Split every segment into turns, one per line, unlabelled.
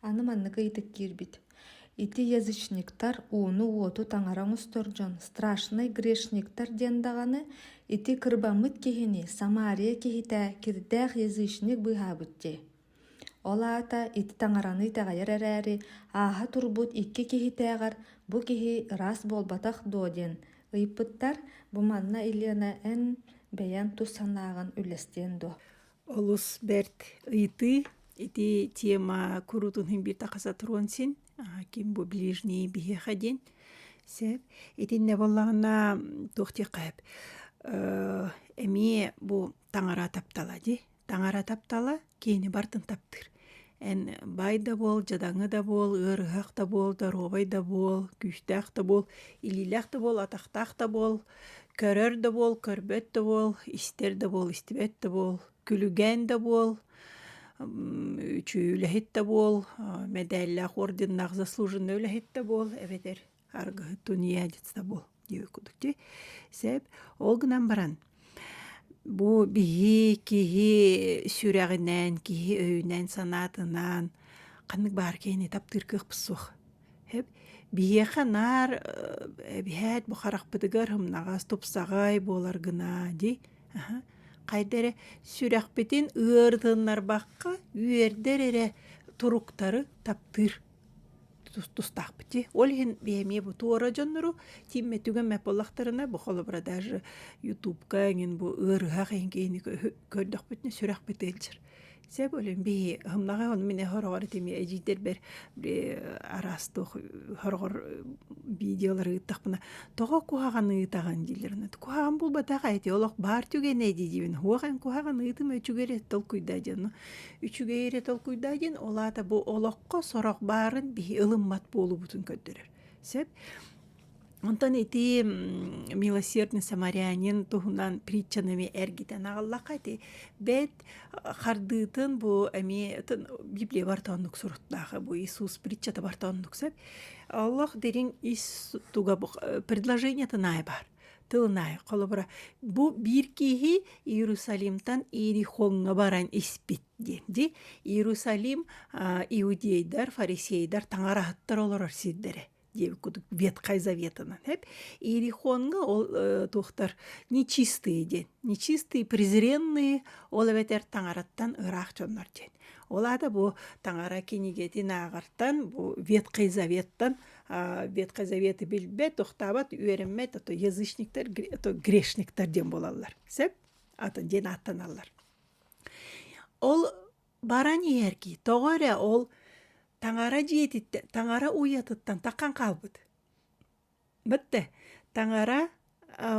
аны маннык ыйытык киирбит ити язычниктар ууну уоту таҥара оҥостор дьон страшный грешниктар диэн даҕаны ити кырбаммыт киһини самария киһитэ кирдээх язычник быыһаабыт дии Ол аата ити таҥараны итэҕэйэр эрээри, ааһа турбут икки киһитээҕэр бу киһи ыраас буолбатах дуо диэн ыйыппыттар, бу манна Елена эн бэйэҥ тус санааҕын үллэстиэн дуо? Олус бэрт ыйытыы. Ити тема куруутун химбир тахасатыруон син, ким бу ближний биһиэхэ диэн. Сөп. Итиннэ буоллаҕына туох диэххэ эбит. Эмиэ бу таҥара таптала дии таҥара таптала киини бартын таптыыр эн бай да буол дьадаҥы да буол ыарыһах да буол доруобай да буол күүстээх да буол илиилээх да буол атахтаах да буол көрөр да буол көрбөт да буол истэр да буол истибэт да буол күлүгээн да буол үчү үлэһит да буол мэдээллээх орденнаах заслуженный үлэһит да буол эбэтэр аргыһы тунеядецтабул диэбит кудук ти сеп ол гынан баран бу биһи киһи сүрэҕинэн киһи өйүнэн санаатынан ханнык баар киһини таптыыр кыахпыт суох эп биһиэхэ наар эбиһээт бу харахпытыгар humнаҕас тупсаҕай буолар гына ди хайда эрэ сүрэхпитин ыарытыннарбакка үөрдэр эрэ туруктары таптыыр тустахпыти. Ол иһин биэмие бу туора дьоннору тиимме түгэн мэпыллахтарына бу холобура даже ютубка эҥин бу ыарыһах эһин киһини көрдөхпүтүнэ сүрэхпит ыалдьар. Сэ болин бии хымнаҕа ону мине хороҕор тими эжиидербер араастык хорогор видеолары ыыттахпына тоҕо куһаҕан ыытаҕын диилерин куһаҕан булбатах эти олох баар түгэн эдидибин хуах эн куһаҕан ыытым өчүгер толкуйда дьону үчүгэй эрэ толкуйдаа диэн ол аата бу олоххо сорох баарын биһи ылыммат буолуубутун көрдөрөр сөп Онтон ити милосердный самарянин туһунан притчанами эргитен аҕаллаха ити бэт хардыытын бу эми библия бартоннук суруттаахы бу Иисус притчата бартоннук сөп Аллах дирин ис туга предложениятын ай бар тылынай холобура бу биир киһи Иерусалимтан Иерихоҥҥа баран испит диэн ди Иерусалим иудейдар фарисейдар таҥараһыттар олорор сирдэрэ диэбит кудук ветхай заветынан эп Иерихоҥҥа ол туохтар нечистые диэн нечистые презренные ол эбэтэр таҥараттан ыраах дьоннор диэн ол аата бу таҥара кинигэтин ааҕартан бу ветхай заветтан ветка заветы билбэт охтаабат үөрэммэт а то язычниктар а то грешниктар диэн буолаллар сөп атын диэн ааттаналлар ол баран иһэрки тоҕо эрэ ол таҥара дьиэтиттэн таҥара уйатыттан таххан хаалбыт бытты таҥара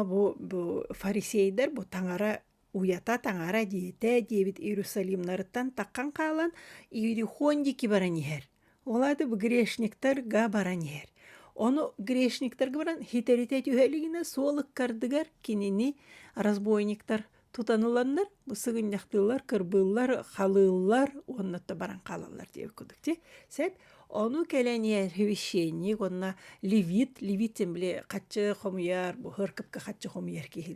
бу фарисейдер бу таҥара Уйата таҥара диэтэ диэбит Иерусалимнарыттан таххан хаалан Иерихондики баран иһэр. Ол аата бу грешниктарга баран иһэр. Ону грешниктарга баран хитэрите түһэлигинэ суолuk кардыгар кинини разбойниктар тутаныланнар бу сыгынньахтыылар, кырбыыллар, халыыллар уонна то баран хаалаллар диэ кудук ти. Сеп ону кэлэниэр священник уонна левит, левит тем били хаччы хомуйар, бу хыркыпка хаччы хомуйар киһи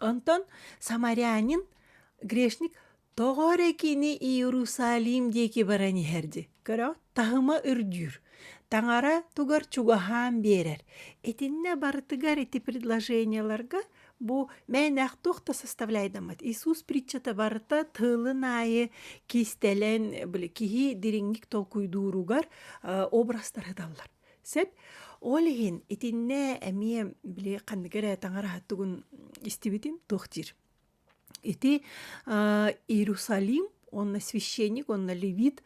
Онтон самарянин грешник тоҕо эрэ кини Иерусалим диэки баран иһэрди. Көрө таһыма үрдүүр, таҥара тугар чугаһаан биэрэр. Итиннэ барытыгар ити предложениеларга бу мээнэх туох да составляйдаммат. Иисус притчата барыта тыылын аайы кистэлэн, били киһи дириҥник толкуйдууругар образтар ыталлар. Сөп. Ол иһин итиннэ эмиэ били ханныгы эрэ таҥараһа тугун истибитим туох диир. Ити аа Иерусалим уонна священник уонна левит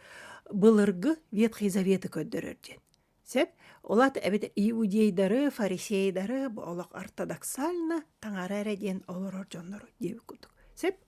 былыргы Ветхий Заветы көрдөрөр диэн. Сөп. Олат эбэтэ иудейдары, фарисейдары бу олох ортодоксально таҥара эрэ диэн олорор дьоннору диэбит курдук. Сөп.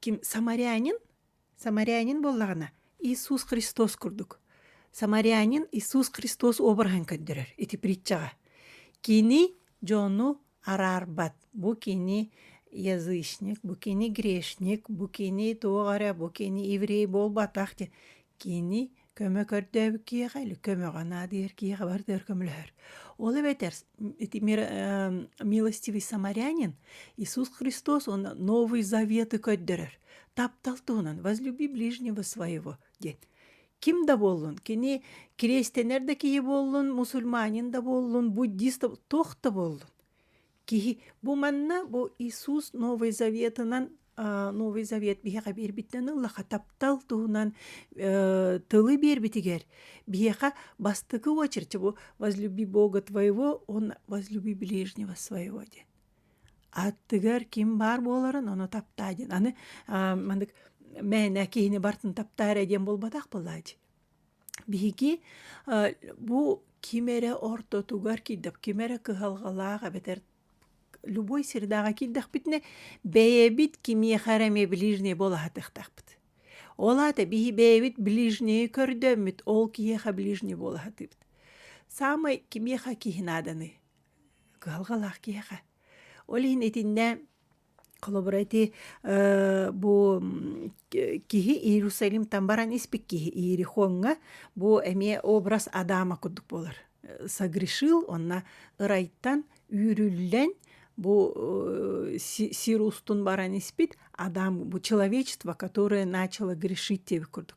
ким самарянин самарянин буоллаҕына Иисус Христос курдук самарянин Иисус Христос обраһын көрдөрөр ити притчаҕа кини дьону араарбат бу кини язычник бу кини грешник бу кини туох эрэ бу кини еврей буолбатах диэн кини көмө көрдөөбүт киһиэхэ или көмөҕө наадыйар киһиэхэ бардыар көмөлөһөр ол эбэтэр ити милостивый самарянин иисус христос уонна новый заветы көрдөрөр таптал туһунан возлюби ближнего своего диэн ким да буоллун кини кириэстэнэр да киһи буоллун мусульманин да буоллун буддист да туох да буоллун Киһи бу манна бу Иисус Новый Заветынан Новый Завет биһиэхэ биэрбиттэн ыллаха таптал туһунан тылы биэрбитигэр биһиэхэ бастакы очередь бу «Возлюби Бога твоего, он возлюби ближнего своего» диэн. Аттыгар ким баар буоларын ону таптаа диэн. Аны маннык мээнэ киһини бартын таптаа эрэ диэн буолбатах былаадь. Биһиги бу ким эрэ ортотугар киирдэх, ким эрэ кыһалҕалаах эбэтэр любой средаҕа киирдэхпитинэ бэйэбит кимиэхэ эрэ эмиэ ближнее буолаһатыахтаахпыт. Ол аата биһи бэйэбит ближнее көрдөммүт, ол киһиэхэ ближнее буолаһатыыбыт. Саамай кимиэхэ киһи нааданый? Кыһалҕалаах киһиэхэ. Ол иһин итиннэ Холобура ити бу киһи Иерусалимтан баран испит киһи Иерихоҥҥа бу эмиэ образ Адама курдук буолар. Согрешил онно ырайтан үүрүллэн бу сир устун баран испит Адам бу человечество которое начало грешить диэбит курдук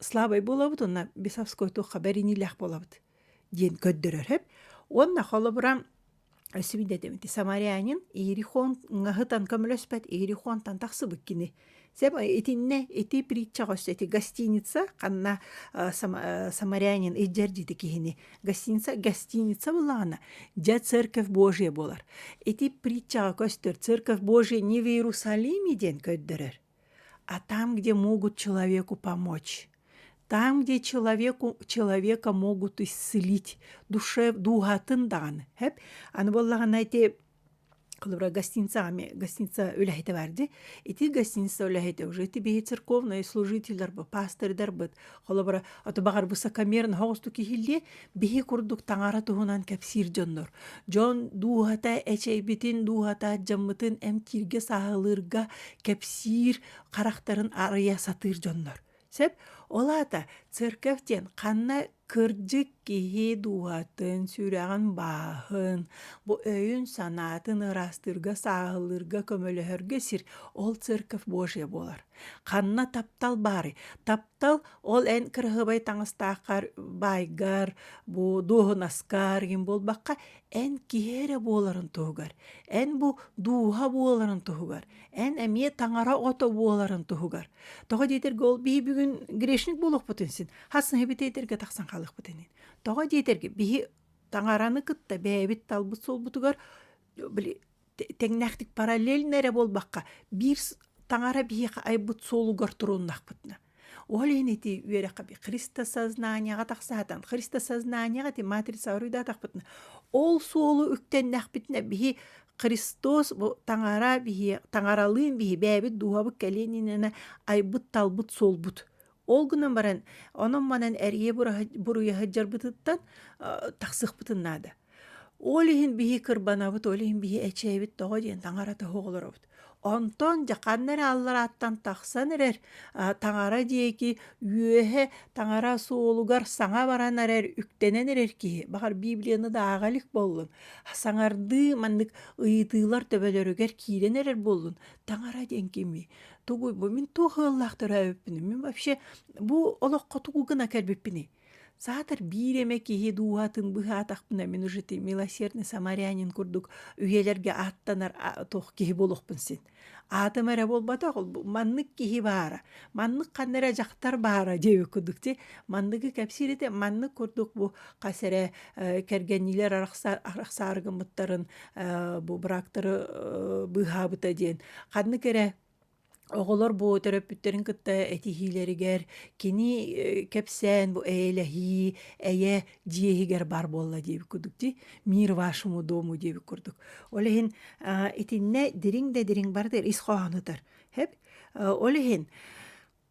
слабай буолабыт уонна бесовской туохха бэриниилээх буолабыт диэн көрдөрөрөп уонна холобура свидетель самарянин иерихон ҥаһытан көмөлөспөт иерихонтан тахсыбыт кини сэм итинне ити притчаҕа өссө ити гостиница ханна самарянин иждердити киһини гостиница гостиница буллаҕана дьэ церковь божия буолар ити притчаҕа көстөр церковь божия не в иерусалиме диэн көрдөрөр а там где могут человеку помочь там где человеку человека могут исцелить душе дууһа атын даҕаны хэп аны буоллаҕына ити холобура гостиница ами гостиница үлэһитэ баарди ити гостиница үлэһитэ уже ити биһи церковный служительдар бу пастырдарбыт Холобура, ото баҕар бу сакамерн хоҕустук иһиллиэ, биһи курдук таҥара туһунан кэпсиир дьоннор. Дьон дууһата эчэйбитин, дууһата адьаммытын эмтииргэ, сааһылыырга кэпсиир харахтарын арыйа сатыыр дьоннор. Сөп? Ол аата церковь диэн ханна кырдьык киһи дууһатын, сүрэҕин бааһын, бу өйүн-санаатын ыраастыырга, сааһылыырга, көмөлөһөргө сир ол церковь Божья буолар. Ханна таптал баарый? Таптал ол эн кыраһыабай таҥастааххар, баайгар, бу дуоһунаскар гин буолбакка, эн киһи эрэ буоларын туһугар, эн бу дууһа буоларын туһугар, эн эмиэ таҥара ото буоларын туһугар. Тоҕо диэтэргэ ол бии бүгүн грешник буолуохпутун син, хас ны битиэтиргэ тахсан хаалыахпыт инин. Тоҕо диэтэргэ биһи таҥараны кытта бэйэбит талбыт суолбутугар били тэҥнээхтик параллельно эрэ буолбакка биир таҥара биһиэхэ айбыт суолугар туруннахпытына ол иһин ити үөрэххэ христосознанияҕа тахсаатан христосознанияҕа ити матрица уруйдаатахпытына ол суолу үктэннэхпитинэ биһи Христос бу таҥара биһи таҥаралыын биһи бээбит дууһабыт кэлиэнинэнэ айбыт талбыт суолбут Ол гынан баран онон-манан эрийэ буруйа сылдьарбытыттан тахсыахпытын наада. Ол иһин биһи кырбанабыт, ол иһин биһи эчэйэбит тоҕо диэн таҥара тоһу олоробут. Онтон дьаханна эрэ алларааттан тахсан эрэр таҥара диэки үөһэ таҥара суолугар саҥа баран эрэр үктэнэн эрэр киһи баҕар Библияны да ааҕа илик буоллун саҥардыы маннык ыйытыылар төбөлөрүгэр киирэн эрэр буоллун таҥара диэн кимий тугу бу мин туох ыаллаах төрөөбүппүнүй мин вообще бу олоххо тугу гына кэлбиппиний саатар биир эмэ киһи дууһатын быһаатахпына мин уже ты милосердный самарянин курдук үйэлэргэ ааттанар туох киһи буолуохпун син аатым эрэ буолбатах маннык киһи баара маннык ханна эрэ дьахтар баара диэби курдук ти манныгы кэпсиирите маннык курдук бу хас эрэ кэргэнниилэр арахсаар арахсаар гыммыттарын бу быраактары быыһаабыта диэн ханнык эрэ оҕолор бу төрөппүттэрин кытта этиһиилэригэр кини кэпсээн бу эйэлэһии эйэ дьиэ иһигэр баар буолла диэбит курдук дии мир вашему дому диэбит курдук ол иһин итиннэ дириҥ да дириҥ барытыгар ис хоһоонутар хэп ол иһин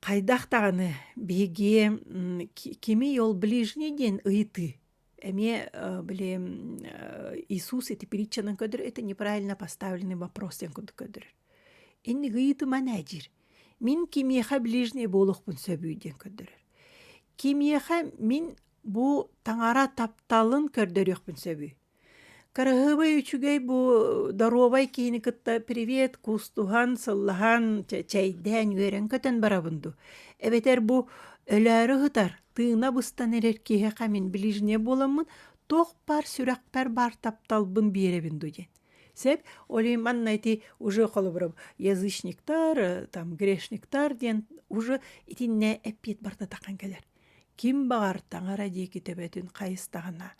хайдах даҕаны биһиги кими ол ближний диэн ыйытыы Эмиэ били Иисус ити притчанан көрдөр это неправильно поставленный вопрос ден курдук көрдөр. Инни гыйытыман әжир. Мин кимиэхэ ближний болуқпын сөбүй ден көрдөрөр. Кимиэхэ мин бу таңара тапталын көрдөрүөхпүн сөбүй. Карахыбай үчүгэй бу доровай киһини кытта привет кустуһан, сыллаһан, чэйдээн, үөрэн көтөн барабынду. Эбэтэр бу өлөөрү хытар Тыына быстан эрэр киһиэхэ мин ближнее буоламмын туох баар сүрэхпэр баар тапталбын биэрэбин дуу диэн. Сэп oli манна ити уже холобуру язычниктар там грешниктар диэн уже итиннэ эппиэт барда тахан кэлэр. Ким баҕар таҥара диэки төбөтүн хайыстаҕына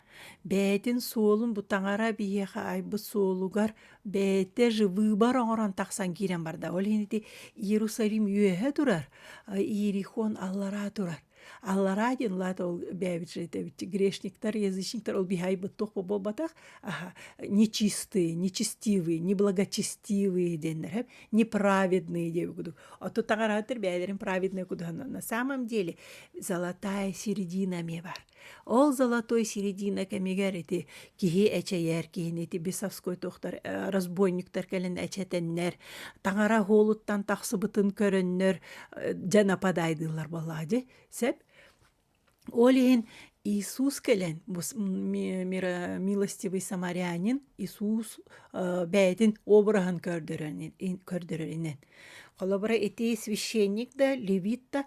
Бэйэтин суолун бу таҥара биһиэхэ айбыт суолугар бэйэтэ выбор оҥорон тахсан киирэн барда. Ол иһин ити Иерусалим үөһэ турар, Иерихон аллараа турар. Аллараа диэн улаата ол бэйэбит же это грешниктар, язычниктар ол биһи айбыт туох буолбатах аха нечистые, нечестивые, неблагочестивые диэннэр неправедные диэбит кудук. Оттон таҥарааттар бэйэлэрин праведные кудуһан на самом деле золотая середина эмиэ бар. Ол золотой середина кэмигэр ити киһи эчэйэр киһини ити Бесовской тохтор э, разбойниктар кэлэн эчэтэннэр таҥара оһуолуттан тахсыбытын көрөннөр э, дьэ нападайдыылар болаа дьэ сеп ол иһин Иисус кэлэн бу милостивый самарянин Иисус э, бэйэтин обраһын көрдөрөнүнэн холобура ити священник да левит да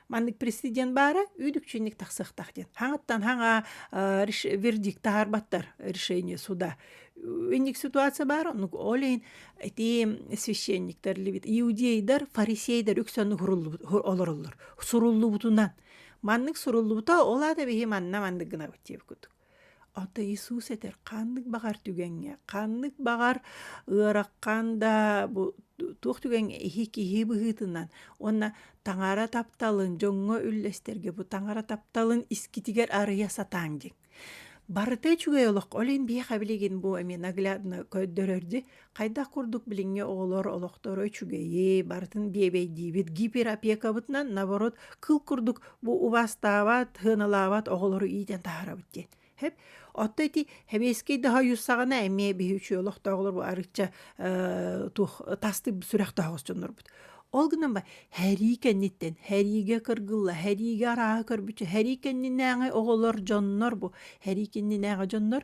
Маннык президент баара үүдүкчинник тахсыахтах диэн. Хаҥаттан хаҥа вердикт таарбаттар решение суда. Инник ситуация баар, ну олейн эти священниктер либит иудейдар, фарисейдер үксен олороллор. Суруллубутунан. Маннык суруллубута ола да бихи манна маннык гына бутиев кутук. Ото Иисус этэр ханнык баҕар түгэҥҥэ ханнык баҕар ыараххан да бу туох түгэҥҥэ иһи киһи быһыытынан уонна таҥара тапталын дьоҥҥо үллэстэргэ бу таҥара тапталын искитигэр арыйа сатааҥ диэн. Барыта үчүгэй олох ол иһин биһиэхэ билигин бу эмиэ наглядно көрдөрөр дии Хайдах курдук билиҥҥи оҕолор олохторо үчүгэйи, барытын биэбэйдиибит гиперопекабытынан, наоборот, кыл курдук бу убастаабат, сыаналаабат оҕолору иитэн таһаарабыт диэн. Хэп Отто ити хэмиэскэй да хойуссаҕына эмиэ биһи үчүгэй олохтооҕолор бу арычча э, туох тастык сүрэхтоох дьоннорбут. Ол гынан ба һэрии кэнниттэн, һэриигэ кыргылла, һэриигэ арааһы көрбүччэ, һэрии кэннинээҕи оҕолор дьоннор бу, һэрии кэннинээҕи дьоннор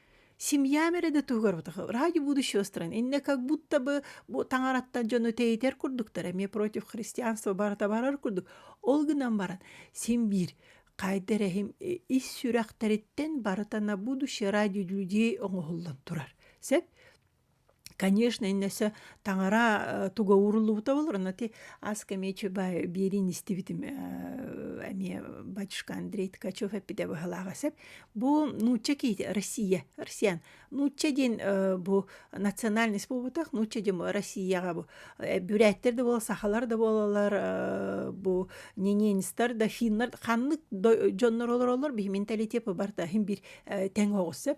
Семья мере да тугар радио будущего стран инне как будто бы бу таҥараттан дьону тейтер курдуктар эми против христианства барата барар курдук ол гынан баран син биир хайда эрэһим ис сүрэхтэриттэн барыта на будущее ради людей оҥоһуллан турар сеп Конечно, иннесэ таҥара туга ууруллубута болор, но ти аска мечебай биэрин истибитим эмиэ батюшка Андрей Ткачев эппитэ быһылаахасеп. Бу нуучча киити Россия, россиян нуучча диин бу национальность буолбутах, нуучча диин Россияга бу бүрээттер да буолла, сахалар да буолалар, бу нененецтар да финнар ханнык дьоннор олороллор, биһи менталитепы барта хин бир тэҥ оҕуссеп.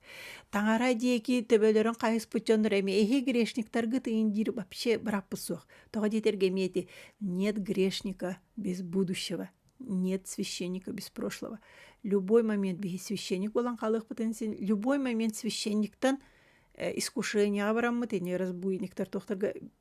Таҥара диэки төбөлөрүн хайыспыт дьоннор эми эһи грешниктаргыт иин диир вообще быраппыт суох. Тоҕо диэтэргэ эмиэти нет грешника без будущего, нет священника без прошлого. Любой момент биһи священник болан халыахпытын син любой момент священниктан э, искушенияға бараммыт ини разбуйниктар тохтарга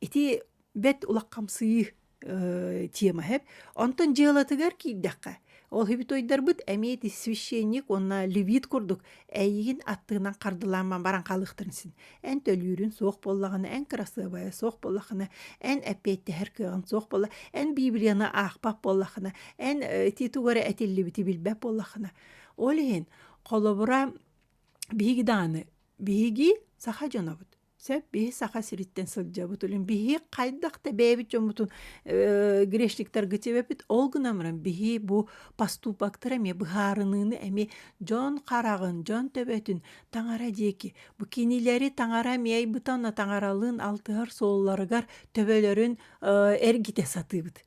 Ити бэт улахамсыы э, тема хэп. Онтон дьыалатыгар киирдэххэ, ол хибитойдарбыт эмиэт священник уонна левит курдук эйигин аттынан хардылааман баран хаалыхтарын син. Эн төлүүрүн суох боллаҕына, эн кырасыабайа суох боллахына, эн эппиэттэһэр кыаҕын суох болла, эн Библияны аахпат боллахына, эн ити тугара этиллибити билбэт боллахына. Ол иһин холобура биһиги дааны биһиги саха дьонобут Сөп биһи Саха сириттэн сылдьабыт үлүн биһи хайдах да бэйэбит дьоммутун э, грешниктарга тибэпит ол гынамран биһи бу поступоктары эмиэ быһаарыныыны эми дьон хараҕын дьон төбөтүн таҥара диэки бу кинилэри таҥара миэй бытанна таҥаралыын алтыһар суолларыгар төбөлөрүн э, эргите сатыыбыт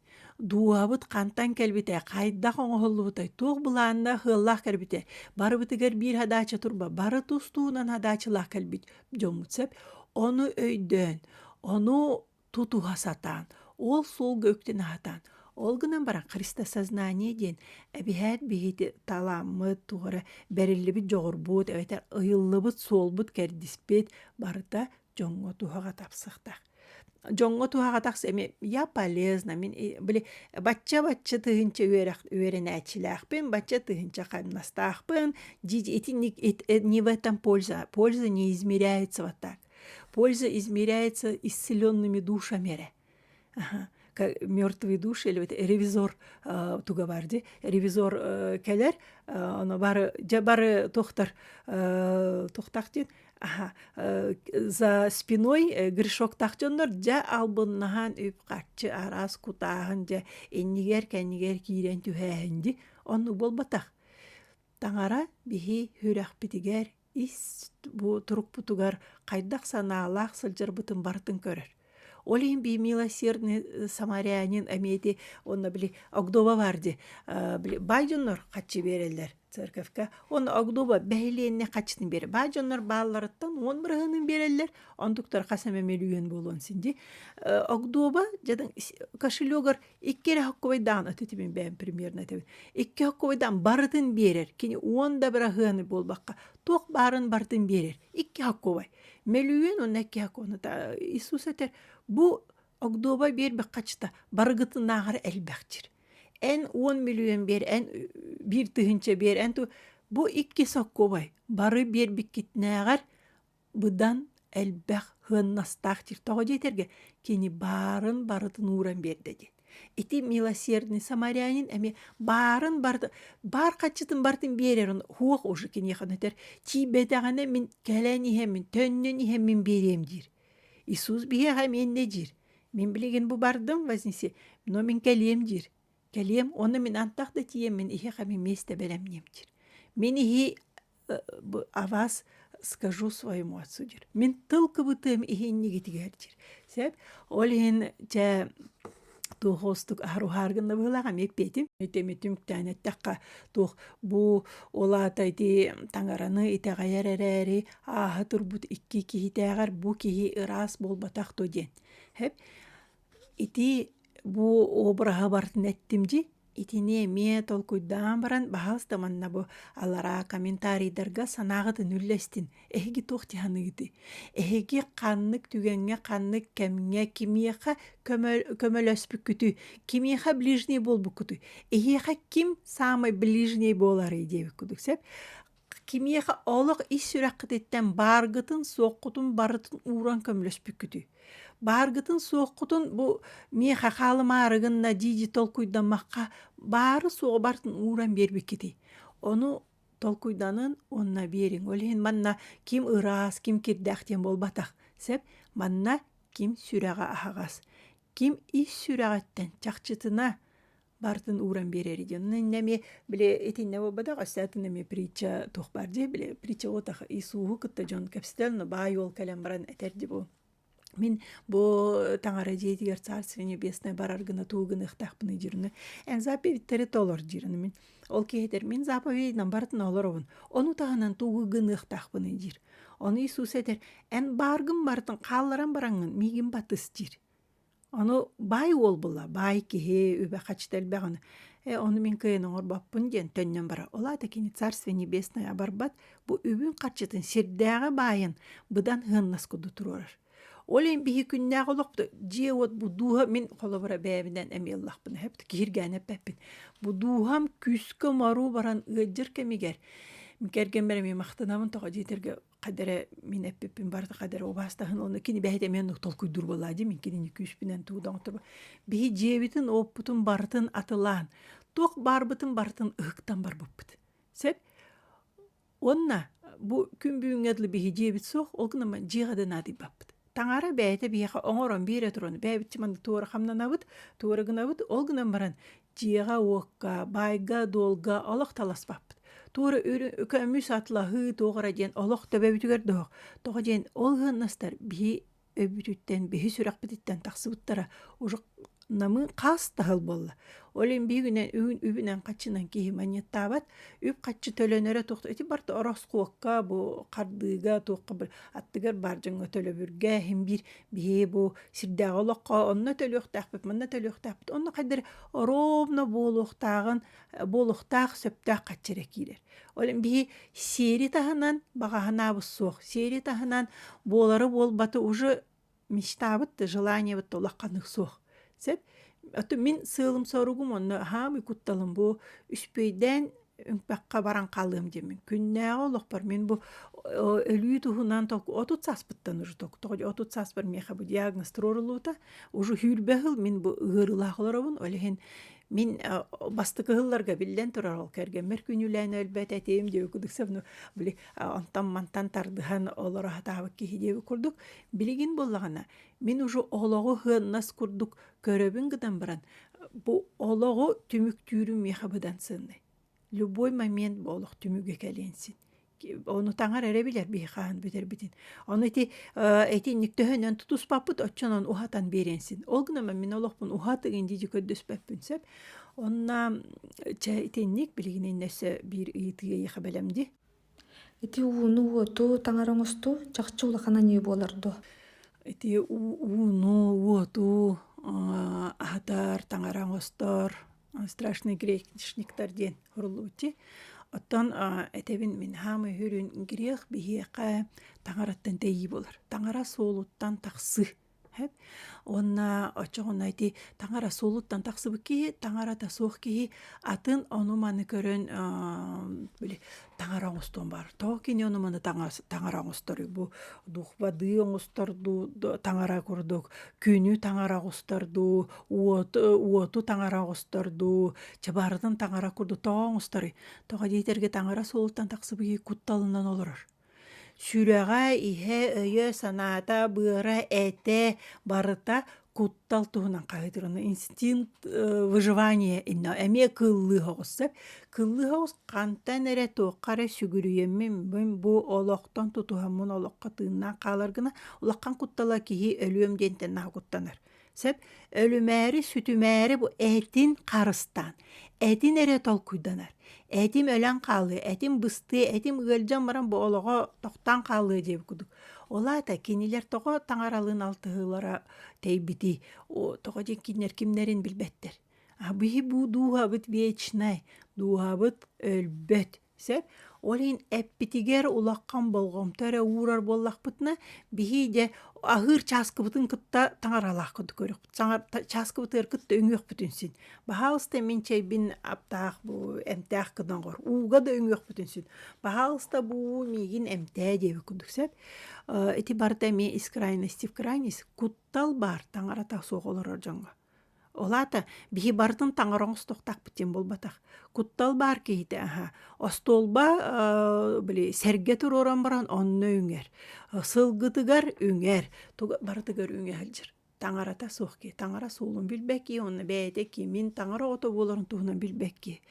Дууһабыт хантан кэлбитэ, хайдах оҥоһуллубутай, туох былааннаах ыаллаах кэлбитэ, барыбытыгар биир хадаача турба, бары тустуунан хадаачылаах кэлбит дьоммут сөп. Ону өйдөөн, ону тутуһа сатаан, ол суолга үктэн аһатаан, ол гынан баран христоссознание диэн эбиһээт биһити таламмыт, туора бэриллибит дьоҕурбут эбэтэр ыйыллыбыт суолбут кэрдиспит барыта дьоҥҥо туһаҕа тапсахтах. Дьоҥҥо туһаҕа тахс эми я полезна мин били бачча бачча тыһынча үөрэх үөрэнээччилээхпин бачча тыһынча хамнастаахпын дии итинник не в этом польза польза не измеряется вот так польза измеряется исцеленными душами эрэ мертвые души или ревизор туга бар ди ревизор келер оно бары бары тохтар тохтах дин за спиной грешок тахчоннор дьэ албыннаһан үп харчы арас кутааһын дьэ иннигэр кэннигэр киирэн түһээһин ди онну болбатах таҥара биһи хүрэхпитигэр ис бу турукпутугар хайдах санаалаах сылдьарбытын барытын көрөр. Ол иһин бии милосердный э, самарянин эмиэти онно били Огдоба бар ди э, били бай дьоннор хаччы береллер церковька он Огдоба бэһилиэнне хаччытын бере бай дьоннор баалларыттан он бырыһынын береллер ондуктар хас эмэ мөлүйүөн буолуон син ди э, Огдоба жадан кошелегор Икки эрэ хоккуйдаан от этибин бэйэм премьерна этэбин. Икки хоккуйдаан барытын биэрэр. Кини уон да быраһыаны буолбакка, туох баарын бартын биэрэр. Икки хоккубай. Мөлүйүөн уонна икки хоккуонута Иисус этэр, бу огдуоба биэрбэх хачыта барыгытынааҕар элбэхтир. Эн уон мөлүйүөн биэр, эн биир тыһыынча биэр, эн бу икки соккубай бары биэрбиккитнээҕэр быдан элбэх сыаннастаах сир тоҕо диэтэргэ кини баарын барытын ууран биэрдэ диэн ити милосердный самарянин эмиэ баарын барыта баар хаччытын барытын биэрэр суох уже киниэхэ өтөр тиийбэтэҕинэ мин кэлэн иһэммин төннөн иһэммин биэриэм диир иисус биһиэхэ миэннэ диир мин билигин бу бардым вознесе но мин кэлиэм диир кэлиэм уонна мин антах да тиийэммин иһиэхэ мин миэстэ бэлэмниэм диир мин иһи авас скажу своему отцу дир мин тыл кыбытыам иһиннигитигэр дир сеп ол иһин чэ туохуостук аһаруһаар гынна быһылаах ами эппиэтим үтөмүтүм күтээн эттэххэ туох бу ол аата ити таҥараны итэҕэйэр эрээри ааһа турбут икки киһитээҕэр бу киһи ыраас буолбатах дуо диэн хеп Итии бу обраһы бартын эттим дьи, итини эмиэ толкуйдаан баран баһаалыста манна бу алараа комментарийдарга санааҕытын үллэстин, эһиги туох дьаһаныгытый? Эһиги ханнык түгэҥҥэ, ханнык кэмҥэ, кимиэхэ көмө- көмөлөспүккүтүй? Кимиэхэ ближний буолбуккутуй? Эһиэхэ ким саамай ближний буоларый диэбит курдук сөп. Кимиэхэ олох ис сүрэххититтэн бааргытын-суоххутун барытын ууран көмөлөспүккүтүй? Бааргытын-суоххутун бу миэхэ хаалымаары гынна дии-дии толкуйдаммакка баары-суоҕу барытын ууран биэрбиккитий? Ону толкуйданан уонна биэриҥ. Ол иһин манна ким ыраас, ким кирдээх диэн буолбатах. Сөп? Манна ким сүрэҕэ аһаҕас. Ким ис сүрэҕиттэн чахчытына бартын ууран биэрэри дьонун иннэми били итиннэ буолбатах өстөтүн эми притча туох баар дии били притча отах исууһу кытта дьон кэпсэтэн но баай уол кэлэн баран этэрди бу мин бу таҥара дьиэтигэр царство небесное барар гына туу гыныахтаахпыны дирны эн заповедьтери толор дирн мин ол киһитэр мин заповедьынан бартын олоробун ону таһынан туугу гыныахтаахпыны дир ону иисус этер эн бааргын бартын хаалларан бараҥын миигин батыс дир Ону баай уол була, баай киһи, үбэ хачыта элбэҕин. Э ону мин кыайан оҥорбоппун диэн төннөн барар. Ол аата кини царство небесное барбат, бу үбүн харчытын сирдээҕи баайын быдан сыһыаннас курдук туруорар. Ол эн биһи күннээх олохто дьиэ-уот бу дууһа мин холобура бэйэбинэн эмиэ ыллахпын. Эһэбит киһиргээн эппэппин. Бу дууһам күүскэ умаруу баран ыалдьар кэмигэр, кэргэммэр эмиэ махтанабын тоҕо дьиэтэргэ кадере мин эппиппин барыта кадере убаастаһын оны кини бэһит эмен толкуйдур буолла дим кини күшпүнен туудоңтуба биһи дьиэбитин оппутун барытын атылаан туох барбытын барытын ыһыктан барбыппыт сеп онна бу күн бүгүнгө дылы биһи дьиэбит суох ол гына дьиэҕэ ден атыйбаппыт Таҥара бэйэтэ биһиэхэ оҥорон биэрэ туран бэйэбитчи манна туора хамнанабыт, туора гынабыт, ол гынан баран дьиэҕэ-уокка, баайга-дуолга олох таласпаппыт. Туора үкөмүс атлаһыы туох эрэ диэн олох төбөбүтүгэр доһох. Тоҕо диэн ол ыаннастар биһи өйбүтүттэн, биһи сүрэхпититтэн тахсыбыттара. Уже намы хаас таһыл буолла олин биигүнэн үһүн үбүнэн хаччынан киһи манньыттаабат үп хаччы төлөнөрө тохто ити барта ороскуокка бу хардыыга туохха быр аттыгар бар дьоҥҥо төлөбүргэ иһин биир биһи бу сирдээҕи олоххо онно төлүөхтээхпит манна төлүөхтээхпит онно хайдары оровно буолуохтааҕын буолуохтаах сөптөөх хаччы эрэ киирэр олин биһи сиэри таһынан баҕаһанаабыт суох сиэри таһынан буолары буолбаты уже мечтабыт да желаниебыт да улаханнык суох сөп мин сыалым соругум онно хаамыы кутталым бу үспүөйдээн үҥпэххэ баран хаалыам диэмин күннээҕи олохпор мин бу өлүү туһунан отут сааспыттан уже тоҕо отут сааспар миэхэ бу диагноз туруоруллубута уже сүүрбэ сыл мин бу ыарыылаах олоробун ол иһин мин бастакы сылларга биллэн турар ол кэргэммэр күнүүлээн өлбөт этим диэки кудыкса били онтон-мантан тардыһан олоро сатаабыт киһи диэбит курдук билигин буллаҕына мин уже олоҕу сыаннас курдук көрөбүн гытан баран бу олоҕу түмүктүүрүм миэхэ быдан сыаннай любой момент бу олох түмүгэ кэлиэн син ону таҥар эрэ билэр биһи хаһан бүтэрбитин ону ити итинник төһөнөн тутуспаппыт оччонон уһатан биэриэн син ол гынан мин олохпун уһатыгын дии көрдөспөппүн сөп Онна чэ итинник билигинин өссө биир ыйытыы ехабелем ди. Ити ууну уоту таңар оҥосту чахчы улахана не буоларду. Ити ууну, уоту аһатар, таҥара оҥостор страшный грешниктар диэн суруллубути. Оттон этэбин мин хаамы үрүн грех биһиэхэ таҥараттан тэйии болар. Таҥара суолуттан тахсы. Уонна оччоҕуна ити таҥара суолуттан тахсыбыт киһи, таҥарата суох киһи атын ону-маны көрөн били таҥара оҥостуон баар. Тоҕо кини ону-маны таҥара оҥосторуй? Бу духбадыы оҥостор дуу, таҥара курдук күнү таҥара оҥостор дуу, уоту таҥара оҥостор дуу, чабаарытын таҥара курдук тоҕо оҥосторуй? Тоҕо диэтэргэ таҥара суолуттан тахсыбыт кутталынан олорор. Сүрэҕэ, иһэ, өйө, санаата, быара, этэ барыта куттал туһунан хаһыытыыр. Ону инстинкт выживания иннэ эмиэ кыыллыы соҕус сөп. Кыыллыы соҕус хантан эрэ туохха эрэ сүгүрүйэммин мин бу олохтон тутуһаммын олоххо тыыннаан хаалар гына улахан куттала киһи өлүөм диэнтэн наһаа куттанар. Сөп өлүмээри, сүтүмээри бу этин харыстаан, этин эрэ толкуйданар. Этим өлөн хаалыы, этим быстыы, этим ыалдьан баран бу олоҕо тохтон хаалыы диэбит кудук. Ол аата кинилэр тоҕо таҥаралыын алтыһыылара тэйбити, тоҕо диэн кинилэр кимнэрин билбэттэр. Быһи бу дууһабыт вечнай, дууһабыт өлбөт, Сөп. Ол иһин эппитигэр улахан болҕомто эрэ уурар буоллахпытына, биһи дьэ аһыыр чааскыбытын кытта таҥаралаах курдук көрүөх. Саҥар чааскыбытыгар кытта үҥүөхпүтүн син. Баһаалыста мин чэйбин аптаах бу эмтээх гынаҕор ууга да үҥүөхпүтүн син. Баһаалыста бу миигин эмтээ диэбит курдук сөп. Ити барыта эмиэ из крайности в крайность куттал баар таҥарата суох олорор дьоҥҥо. Ол аата биһи барытын таҥара оҥостохтохпут буолбатах. Куттал баар киһитэ аһа остуолба э, били сэргэ туруоран баран онно үҥэр. Сылгытыгар үҥэр, барытыгар үҥэ сылдьар. Таҥарата суох киһи, таҥара суолун билбэкки, онно бэйэтэ кимин таҥара ото буоларын туһунан билбэкки.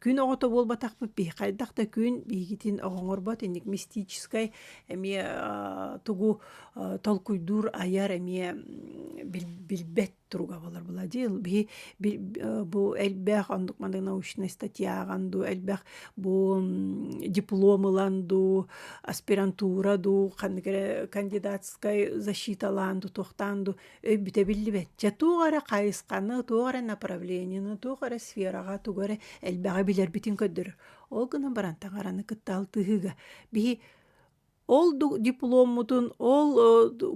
Күн оҕото буолбатахпыт биһи хайдах да күн биһигитин оҕоҥорбот инник мистическай эмиэ тугу толкуйдуур айар эмиэ билбэт туруга болар була дил биһи бу элбэх ондук маны научнай статьяҕан ду элбэх бу диплом ылан ду аспирантура ду ханнык эрэ кандидатскай защиталаан ду туохтаан ду өйбүтэ биллибэт дьэ туох эрэ хайысханы туох эрэ направлениены туох эрэ сфераҕа тугу эрэ элбэҕи билэрбитин көрдөрөр ол гынан баран таҥараны кытта алтыһыыга биһи ол дипломмутун ол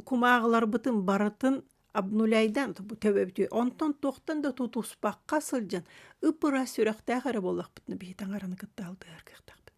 кумааҕыларбытын барытын обнуляйдан төбөбүтү онтон туохтан да тутуспакка сылдьан ып ыра сүрэхтээх эрэ буоллахпытына биһи таҥараны кытта алтыһар кыахтаахпыт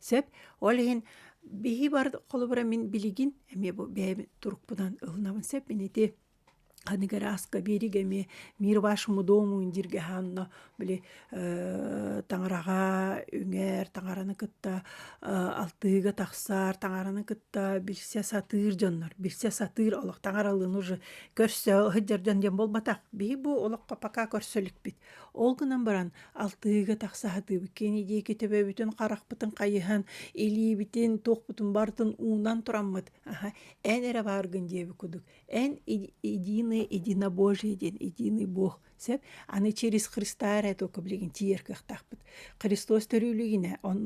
Сеп, ол иһин биһи бар холобура мин билигин эмиэ бу бэйэм турукпунан ылынабын сеп ити аныгы ырааска биэригэ эмиэ мир вашему дому дииргэ хаанна били таҥараҕа үҥэр таҥараны кытта алтыыга тахсар таҥараны кытта билсэ сатыыр дьоннор билсэ сатыыр олох таҥаралыын уже көрсө ыһыддьар дьон диэн буолбатах биһи бу олоххо пока көрсө иликпит Ол гынан баран алтыһыыга тахса сатыыбыт кини диэки төбөбүтүн харахпытын хайыһан илиибитин туохпутун барытын уунан тураммыт аха эн эрэ бааргын диэбит кудук эн единый едино божий диэн единый бог сөп аны через христа эрэ только билигин тиийэр кыахтаахпыт христос төрүүлүгүнэ он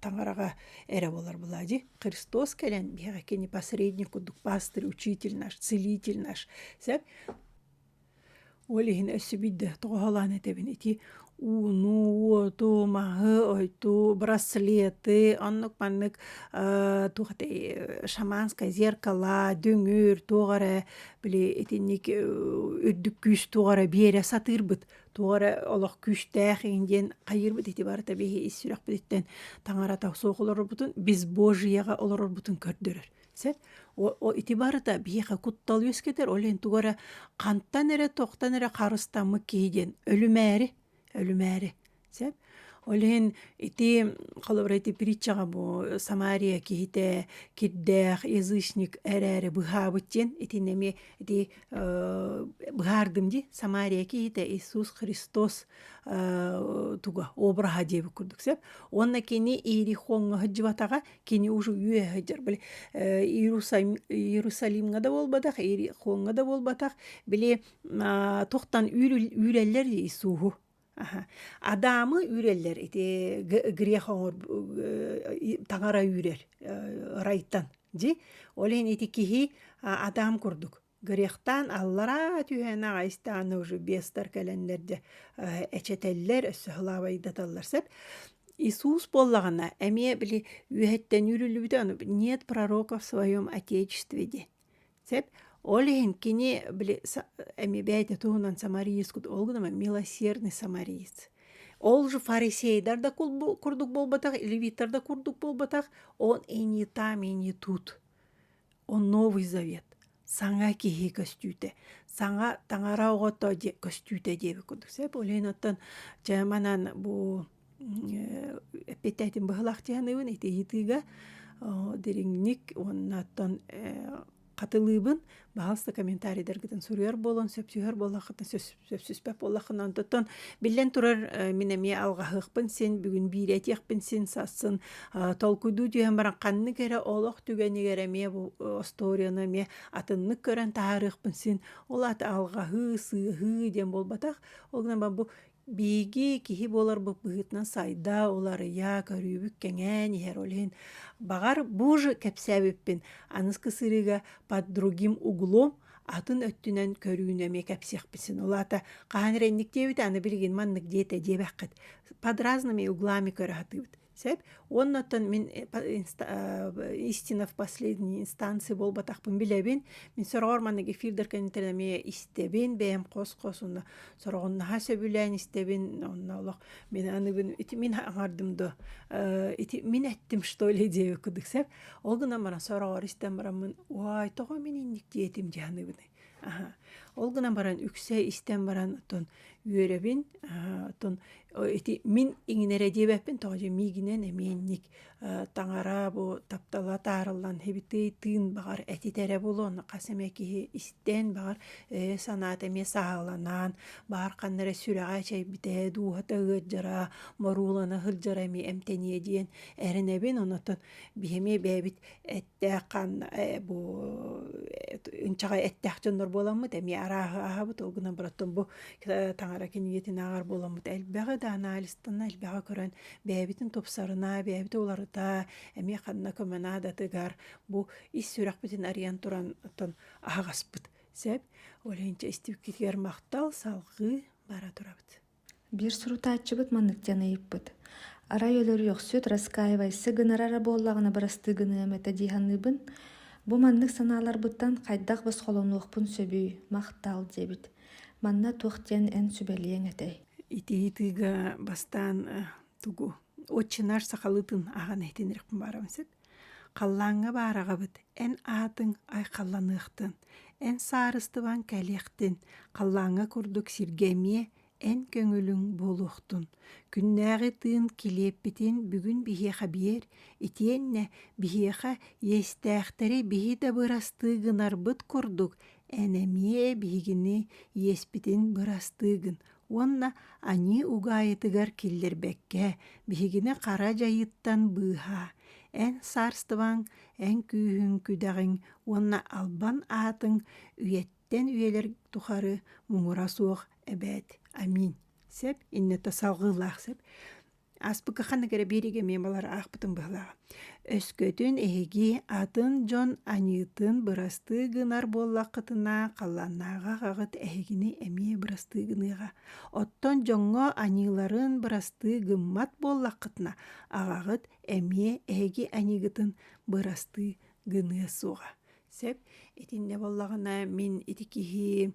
таҥараҕа эрэ болар была ди христос кэлэн биһиги кини посредник кудук пастырь учитель наш целитель наш сөп Ол иһин өссө биирдэ тоҕоһолоон этэбин ити ууну, уоту, маһы, ойду, браслеты, оннук маннык туох этэй шаманскай зеркала, дүҥүр, туох эрэ били итинник үрдүк күүс туох эрэ биэрэ сатыырбыт туох эрэ олох күүстээх иһин диэн хайыырбыт ити барыта биһи ис сүрэхпититтэн таҥарата суох олорорбутун бесбожьеҕа олорорбутун көрдөрөр Сет ити барыта биэхэ куттал үөскэтэр, ол иһин тугу эрэ хантан эрэ тохтон эрэ харыстаммыт киһи диэн өлүмээри, өлүмээри. Сеп ол иһин ити холобура ити притчаҕа бу Самария киһитэ кирдээх язычник эрээри быһаабыт диэн итини эмиэ ити быһаардым ди Самария киһитэ Иисус Христос туга обраһа диэбит курдук сеп уонна кини Иерихоҥҥа сылдьыбатаҕа кини уже үөһэ были Иерусалимга да болбатах, Иерихоҥга да болбатах, били тохтан үүрэллэр Иисуһу. Адамы үүрэллэр ити грех оҥор таҥара үүрэр райтан. Дьи ол иһин ити киһи Адам курдук Горехтаан аллараа түһээн аҕайстаана уже бестар кэлэннэр дьэ эчэтэллэр, өссө сылаабайдаталлар сөп. Иисус буоллаҕына эмиэ били үөһэттэн үүрүллүбүтэ аны нет пророков в своем отечестве диэн. Сөп. Ол иһин кини били эми бэйэтэ туһунан самариискут ол гына милосердный самариец. Ол же фарисейдар да курдук буолбатах, левиттар да курдук буолбатах, он и не там, и не тут. Он Новый Завет, саҥа киһи көстүүтэ, саҥа таҥара оҕото дии көстүүтэ диэбит курдук. Сэ болейн оттон дьэ манан бу эппиттэтин быһылах дьаныыбын итиитиигэ дириҥник уонна оттон хатылыыбын баһалста комментарийдаргытын суруйар буолан сөпсүһэр буоллаххытына сөпсүспэп боллахына онтон биллэн турар мин эмиэ алҕаһыахпын син бүгүн бииретиэхпин син сассын толкуйдуу түһэн баран ханнык эрэ олох түгэнигэр эмиэ бу остуоруяны эмиэ атыннык көрөн таһаарыахпын син ол аата алҕаһыы сыаһыы диэн буолбатах ол гынан бу биһиги киһи буоларбыт быһыытынан сайда уларыйа көрүүбүт кэҥээн иһэр ол иһин баҕар бу же кэпсээбиппин аныскы сырыыга под другим углом атын өттүнэн көрүүнү эмиэ кэпсиэхпит син улаата хаһан эрэ инниктиэбит аны билигин маннык диэтэ диэбэххит подразными углами көрө сатыыбыт сөп уонна оттон мин истина в последней инстанции буолбатахпын билэбин мин сороҕор маннык эфирдэр кэнниттэн эмиэ истэбин бэйэм хос-хос онно сороҕуннаһа сөбүлээн истэбин онно олох мин аныбын ити мин аҥардым до ити мин эттим что ли диэбит кудук сөп Ол гынан баран сороҕор истэн бараммын, «Уай, тоҕо мин инник диэтим?» дьаныыбыный? Аха. Ол гынан баран үксэ истэн баран оттон үөрэбин, аха, оттон ити мин иҥинэрэ диэбэппин тоҕо дьэ миигинэн эмиэнник э, таҥара бу таптала таарыллан хибитий тыын баҕар этитэрэ булуон хас эмэ киһи истэн баҕар э, санаата эмиэ сааланан баар ханна эрэ сүрэҕэ чэйбитэ дууһата ыырдьара моруулана сылдьара эмиэ эмтэниэ диэн эрэнэбин онотон биһи эмиэ бэйэбит эттээх ханна э, бу ынчаҕай эттээх дьоннор буоламмыт эмиэ арааһы аһабыт ол гынан бараттан бу э, таҥара киниэтин ааҕар буоламмыт элбэҕи да анализтанна элбэҕи көрөн бэйэбитин тупсарына бэйэбитин уларыта эмиэ ханна көмө наадатыгар бу ис сүрэхпитин арыйан турантан аһаҕаспыт сөп ол иһинчэ истибиккитигэр махтал салҕыы бара турабыт биир сурутааччыбыт маннык диэн ыйыппыт арай өлөрүөхсүт раскаивайся гынар эрэ буоллаҕына бырастыы гыныам этэ дии саныыбын бу маннык санааларбыттан хайдах босхолонуохпун сөбүй махтал диэбит манна туох диэн эн сүбэлиэҥ этэй ити ыйытыыга бастаан тугу отче наш сахалытын ахан иһитиннэриэхпин баарам сөп Халлааҥҥа баараҕабыт, эн аатыҥ айхалланыахтын, эн саарыстыбаҥ кэлиэхтин, халлааҥҥа курдук сиргэ эмиэ эн көҥүлүҥ буолуохтун. Күннээҕи тыын килиэппитин бүгүн биһиэхэ биэр, итиэннэ биһиэхэ иэстээхтэри биһи да бырастыы гынарбыт курдук, эн эмиэ биһигини иэспитин бырастыы гын, уонна аньыы угаайытыгар киллэрбэккэ биһигини хара дьайыыттан быыһаа эн саарыстыбаҥ эн күүһүҥ күдэҕиҥ уонна албан аатыҥ үйэттэн үйэлэр тухары муҥура суох эбээт аминь сеп иннэтэ салгыылаах сеп Аспыкка ханнык эрэ биэриги эмиэ балар аахпытым быһылаах. Өскөтүн эһиги атын дьон аньыытын бырастыы гынар буоллаххытына, халлааннааҕы аҕаҕыт эһигини эмиэ бырастыы гыныаҕа. Оттон дьоҥҥо аньыыларын бырастыы гыммат буоллаххытына, аҕаҕыт эмиэ эһиги аньыыгытын бырастыы гыныа суоҕа. Сеп итинне боллагына мин ити киһи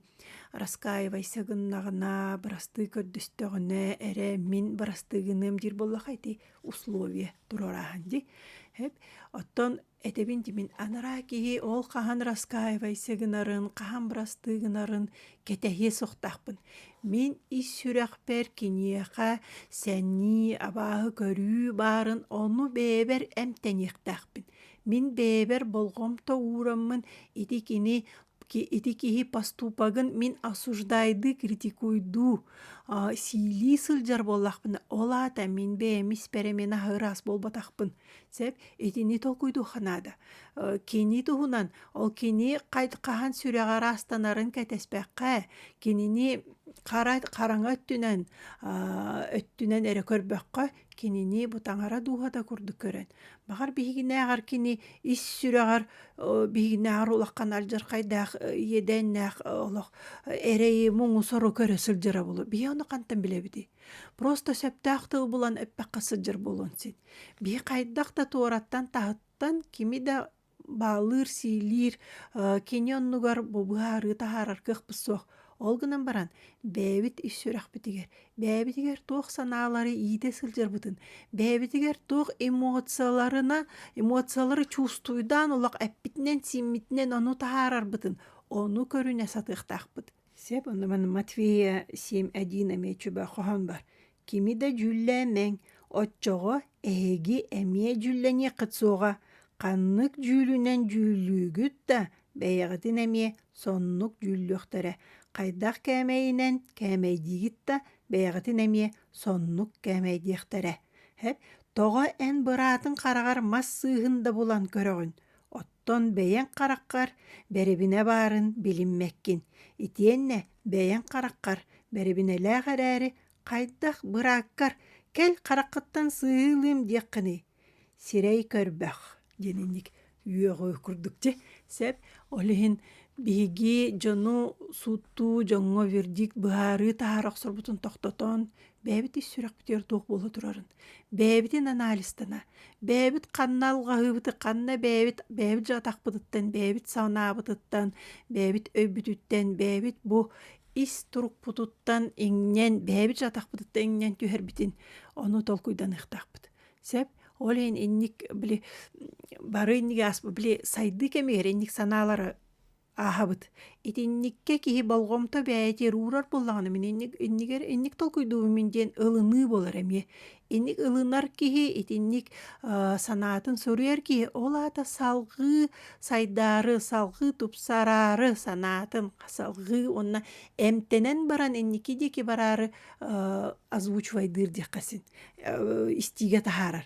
раскаивайса гыннаҕына бырастыы көрдөстөҕүнэ эрэ мин бырастыгыныам диир боллаха ити условие турорааһын ди эп оттон этэбин димин анараа киһи ол хаһан раскаивайса гынарын хаһан бырастыы гынарын кэтэһиэ суохтаахпын мин ис сүрэхпэр киниэхэ сэнии абааһы көрүү баарын ону бэйэбэр эмтэниэхтээхпин Мин бэйэбэр болҕомто уураммын ити кини ити киһи поступогын мин осуждайдыы критикуйдуу сиилии сылдьар буоллахпына ол аата мин бэйэм ис бэрэм аһы ыраас буолбатахпын сөп итини толкуйдуохха наада кини туһунан ол кини хаһан сүрэҕэ ыраастанарын кэтэспэккэ кинини хараҥа өттүнэн өттүнэн эрэ көрбөххө Кинини бу таҥара дууһата курдук көрөн, баҕар биһигинээҕэр кини ис сүрэҕэр биһигинээҕэр улахан алдьархайдаах иэдээннээх олох эрэйи муҥу-сору көрө сылдьара буолуо. Биһи ону хантан билэбитий? Просто сөптөөх тыл булан эппэххэ сылдьар буолуон син. Биһи хайдах да туораттан таһыттан кими да бааллыыр-сиилиир кини оннугар бу быһаарыы таһаарар кыахпыт суох ол гынан баран бэйэбит ис сүрэхпитигэр бэйэбитигэр туох санаалары иитэ сылдьарбытын бэйэбитигэр туох эмоцияларына эмоциялары чувствуйдаан олох эппитинэн сииммитинэн ону таһаарарбытын ону көрүнэ сатыахтаахпыт сеп онно Матвея семь один эмиэ чубэ хоһоон бар кими да дьүүллээмэҥ оччоҕо эһиги эмиэ дьүүллэниэххит суоҕа ханнык дьүүлүнэн дьүүллүүгүт да бэйэҕитин эмиэ соннук дьүүллүөхтэрэ хайдах кээмэйинэн кээмэйдиигит да бэйэҕитин эмиэ соннук кээмэйдиэхтэрэ һэп тоҕо эн быраатын хараҕар мас сыыһын да булан көрөҕүн Оттон бэйэҥ хараххар бэрибинэ баарын билиммэккин итиэннэ бэйэҥ хараххар бэрибинэлээх эрээри хайдах бырааккар кэл хараххыттан сыһыылыым диэххиний сирэй көрбөх диэн инник үөҕүү курдук дьэ сөп ол иһин биһиги дьону сууттуу дьоҥҥо вердикт быһаарыы таһаара охсорбутун тохтотон бэйэбит ис сүрэхпитигэр туох буола турарын, бэйэбитин анализтана, бэйэбит ханна алҕаһыыбыты, ханна бэйэбит бэйэбит дьатахпытыттан, бэйэбит санаабытыттан, бэйэбит өйбүтүттэн, бэйэбит бу ис турукпутуттан иҥнэн, бэйэбит дьатахпытыттан иҥнэн түһэрбитин ону толкуйданыахтаахпыт. Сөп? Ол иһин инник били бары инники ас били сайдыы кэмигэр инник санаалары ааһабыт. Итинникке киһи болҕомто бэйэти уурар буоллаҕына мин инник иннигэр инник толкуйдуубумун диэн ылыныы буолар эмиэ. Инник ылынар киһи, итинник санаатын суруйар киһи ол аата салҕыы сайдаары, салҕыы тупсараары санаатын салҕыы уонна эмтэнэн баран инники диэки бараары озвучивайдыыр диэххэ син истиигэ таһаарар.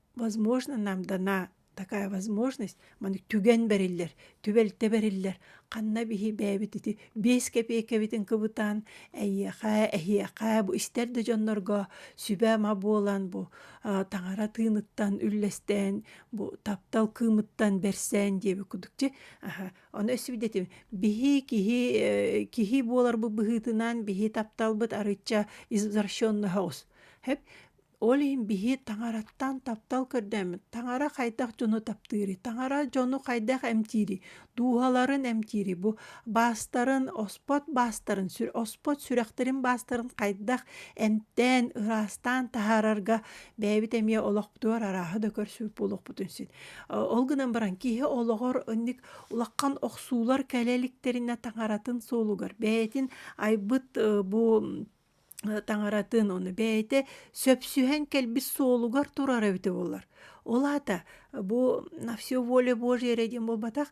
возможно нам дана такая возможность маны түгэн бэриллэр түбэлтэ бэриллэр ханна биһи бэйэбит ити биэс кэпиэкэбитин кыбытаан эйиэхэ эһиэхэ бу истэр да дьоннорго сүбэ-ама буолан бу а, таҥара тыыныттан үллэстээн бу таптал кыымыттан берсэн диэби кудук дьи аха ону өсүбдэтим биһи киһи э, киһи буоларбыт быһыытынан биһи тапталбыт арычча извращенноһоҕус хэп Ол иһин биһи таҥараттан таптал көрдөммүт. Таҥара хайдах дьону таптыырый? Таҥара дьону хайдах эмтиирий? Дууһаларын эмтиирий? Бу баастарын, оспот баастарын, сүр- оспот сүрэхтэрин баастарын хайдах эмтээн, ыраастаан таһаарарга бэйэбит эмиэ олохпутугар арааһы да көрсүбүт буолуохпутун син. Э, Ол гынан баран киһи олоҕор инник улахан охсуулар кэлэ иликтэринэ таҥаратын суолугар бэйэтин айбыт э, бу таҥаратын ону бэйэтэ сөпсүһэн кэлбит суолугар турар эбитэ буолар ол аата бу на все воля божья ради диэн буолбатах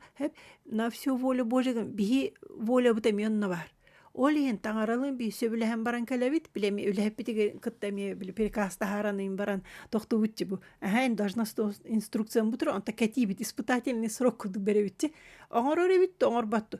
на все воля божья биһи волябыт эмиэ онно баар ол иһин таҥаралыын бии сөбүлэһэн баран кэлэбит билэ эмиэ үлэһиппитигэр кытта эмиэ били приказ таһаараныын баран тохтубутчу бу эһээн должна инструкциям бутур онто кэтиибит испытательный срок курдук беребитчи оҥорор эбит оҥорботту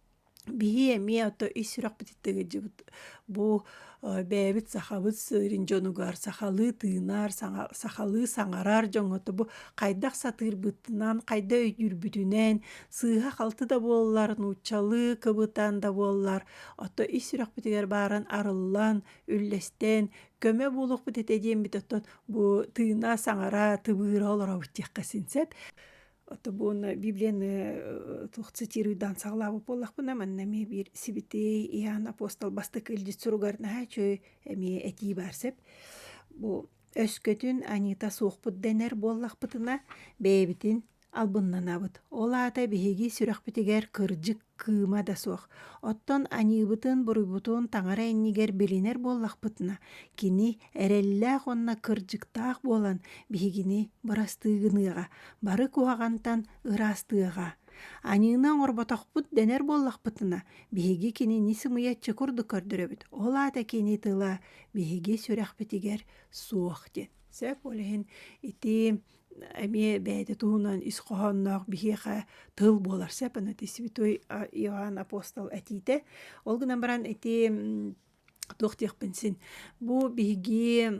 Бии эмиэ ото ис сүрэхпититтэн ыалдьыбыт бу бэйэбит сахабыт сыырын дьонугар сахалыы тыынар саҥа сахалыы саҥарар дьоҥҥото бу хайдах сатыырбытынан хайда өйдүүрбүтүнэн сыыһа-халты да буоллар нууччалыы кыбытан да буоллар ото ис сүрэхпитигэр баарын арыллан үллэстэн көмө буолуохпут этэ диэммит оттон бу тыына саҥара тыбыыра олоробут диэххэ син сөп Тобуна библияны туох цитируйдаан саҕалаабыт буоллахпына манна эмиэ биир сибитиэй иһаан апостол бастакы илдьит суругар наһаа үчүгэй эмиэ этии баар сөп бу өскөтүн анита суохпут дэнэр буоллахпытына бэйэбитин албыннанабыт ол аата биһиги сүрэхпитигэр кырдьык кыыма да суох оттон аньыыбытын буруйбутун таҥара иннигэр билинэр буоллахпытына кини эрэллээх уонна кырдьыктаах буолан биһигини бырастыы гыныаҕа бары куһаҕантан ыраастыаҕа аньыыны оҥорботохпут дэнэр буоллахпытына биһиги кинини сымыйаччы курдук көрдөрөбүт ол аата кини тыла биһиги сүрэхпитигэр суох диэн сөп ол иһин ити эмиэ бэйэтэ туһунан ис хоһоонноох биһиэхэ тыл буолар сепанати святой Иоанн апостол этиитэ. Ол гынан баран ити туох диэхпин син бу биһиги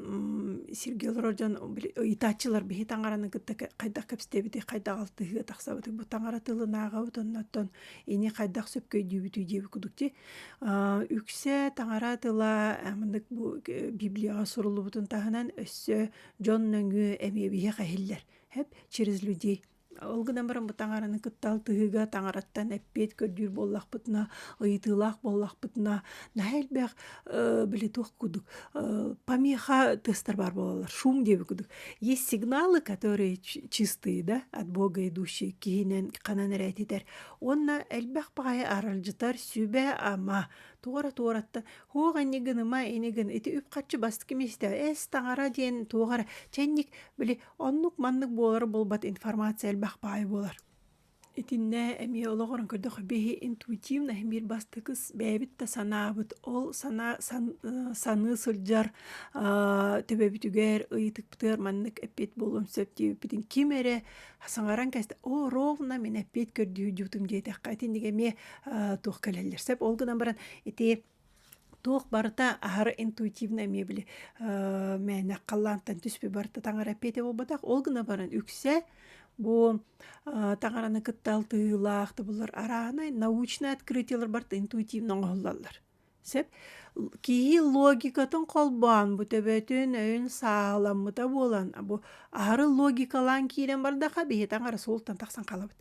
сирге олорор дьон ыйытааччылар биһи таҥараны кытта хайдах кэпсэтэбити хайдах алтыһыы тахсабыты бу таҥара тылынааҕабыт оннуттан ини хайдах сөпкөйдүүбүтүй диэби кудукти үксэ таҥара тыла мындык бу библияҕа суруллубутун таһынан өссө дьон нөҥүө эмиэ биһиэхэ иһиллэр эп через людей ол гынан баран бу таҥараны кытта алтыһыыга таҥараттан эппиэт көрдүүр буоллахпытына ыйытыылаах буоллахпытына наһаа элбэх били туох кудук помеха тестар баар буолаллар шум диэбит кудук есть сигналы которые чистые да от бога идущие киһинэн ханан эрэ этитэр уонна элбэх баҕайы аралдьытар сүбэ ама туора туораттан Хуох ини гыныма, ини гын, ити үп-харчы бастакы миэстэ, эс таҥара диэн туох эрэ чэнник, били оннук маннык буолар буолбат информация элбэх баай буолар. Итиннэ эмиэ олоҕуран көрдөх биһи интуитивно биир бастакы бэйэбит да санаабыт ол санаа саныы сылдьар төбөбүтүгэр ыйытыктыар маннык эппит буолуон сөп диэбиппитин ким эрэ саҥаран кэбистэ оо ровно мин эппиэт көрдүүрдүүтүм диэтэххэ итиннигэ эмиэ туох кэлэллэр сөп ол гынан баран ити туох барыта аһары интуитивно эмиэ били мээнэ халлаантан түспү барыта таҥара эппиэтэ буолбатах ол гына баран үксэ бу таҥараны кытта алтыһыылаах тобуллар араанай научнай открытиелар барыта интуитивно оҥоһуллаллар Сөп. Киһи логикатын холбоон, бу төбөтүн өйүн сааламмыта буолан, бу аһары логикалаан киирэн бардахха, биһи таҥара суолтан тахсан хаалабыт.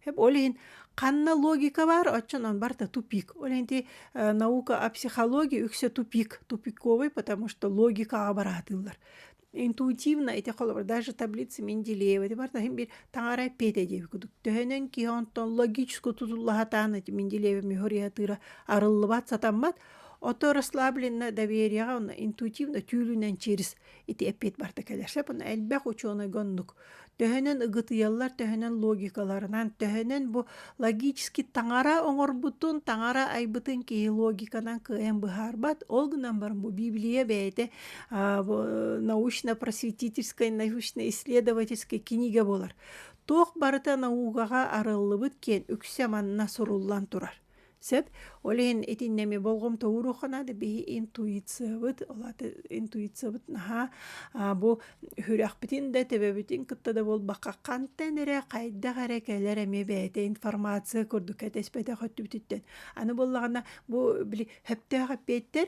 Сөп. Ол иһин ханна логика баар, оччон он барыта тупик. Ол иһин ити э, наука о психологии үксэ тупик, тупиковый, потому что логикаҕа бараатыыллар. интуитивно ити холобур даже таблица менделеева ити барта хим бир таҥара эппиэте диэби кудук төһөнөн ки онтон логическу тутуллахатаан эти менделеева мехориатыра арыллыбат сатаммат ото расслабленно доверияга онно интуитивно түүлүнэн через ити эппиэт барта кэлэрсеп онно элбэх учуонай гоннук төһөнөн ыгытыйаллар төһөнөн логикаларынан төһөнөн бу логический таҥара оҥорбутун таҥара айбытын киһи логиканан кыайан быһаарбат ол гынан баран бу библия бэйэтэ научно-просветительскай научно-исследовательскай кинигэ буолар туох барыта наугаҕа арыллыбыт киэн үксэ манна суруллан турар Сөп. Ол иһин итиннэми болғом тоуруха наада биһи интуициябыт олаты интуициябыт наһаа бу үрөхпүтүн да төбөбүтүн кытта да буолбакка хантан эрэ хайдах эрэ кэлэр эмиэ бэйэтэ информация курдук кэтэспэтэх өттүбүтүттэн аны буоллаҕына бу били сөптөөх эппиэттэр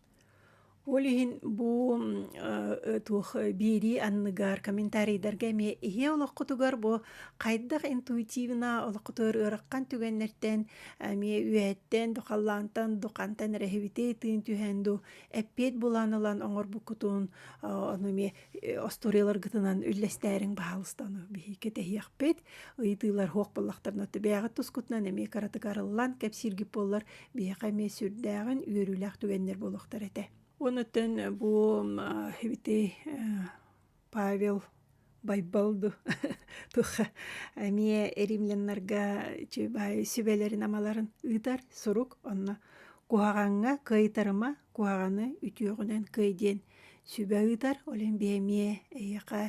Ол иһин бу туох биэрии анныгар комментарийдарга эмиэ ийэ олоххутугар бу хайдах интуитивно олоххутугар ыараххан түгэннэртэн эмиэ үөһэттэн до халлаантан до хантан эрэ иһибитий тыын түһэн ду эппиэт булан ылан оҥорбуккутун ону эмиэ остуоруйаларгытынан үллэстээриҥ баһаалыста ону биһи кэтэһиэхпит ыйытыылар хуох боллохторуна түбээҕит тускутунан эмиэ каратык арыллан кэпсииргит буоллар биһиэхэ эмиэ сүрдээҕин үөрүүлээх түгэннэр буолуохтар этэ онутын бу ити павел байбалду туха эмиэ эримленнарга сүбэлэрин амаларын ыытар сурук онно куһаҕаҥҥа кыайтарыма куһаҕаны үтүөҕүнэн кый диэн сүбэ ыытар, олин биэмие эйиэхэ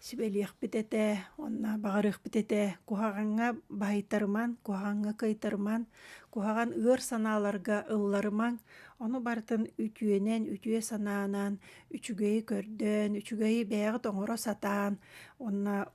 сүбэлиэхпит этэ, онно баҕарыахпит этэ, куһаҕаҥҥа баһыйтарыман, куһаҕаҥҥа кыайтарыман, куһаҕан ыар санааларга ылларымаҥ, ону барытын үтүөнэн, үтүө санаанан, үчүгэйи көрдөөн, үчүгэйи бэйэҕит оҥоро сатаан, онно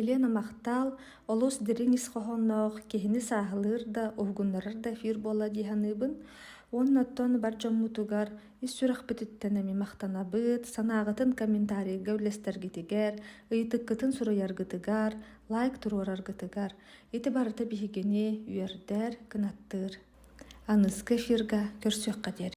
Елена Махтал олус дириҥ ис хоһоонноох, киһини сааһылыыр да, уһугуннарар да эфир буолла дии саныыбын. Уонна оттон бар дьоммутугар ис сүрэхпититтэн эмиэ махтанабыт, санааҕытын комментарийга үллэстэргитигэр, ыйытыккытын суруйаргытыгар, лайк туруораргытыгар. Ити барыта биһигини үөрдэр, кынаттыыр. Аныгы эфиргэ көрсүөххэ диэри.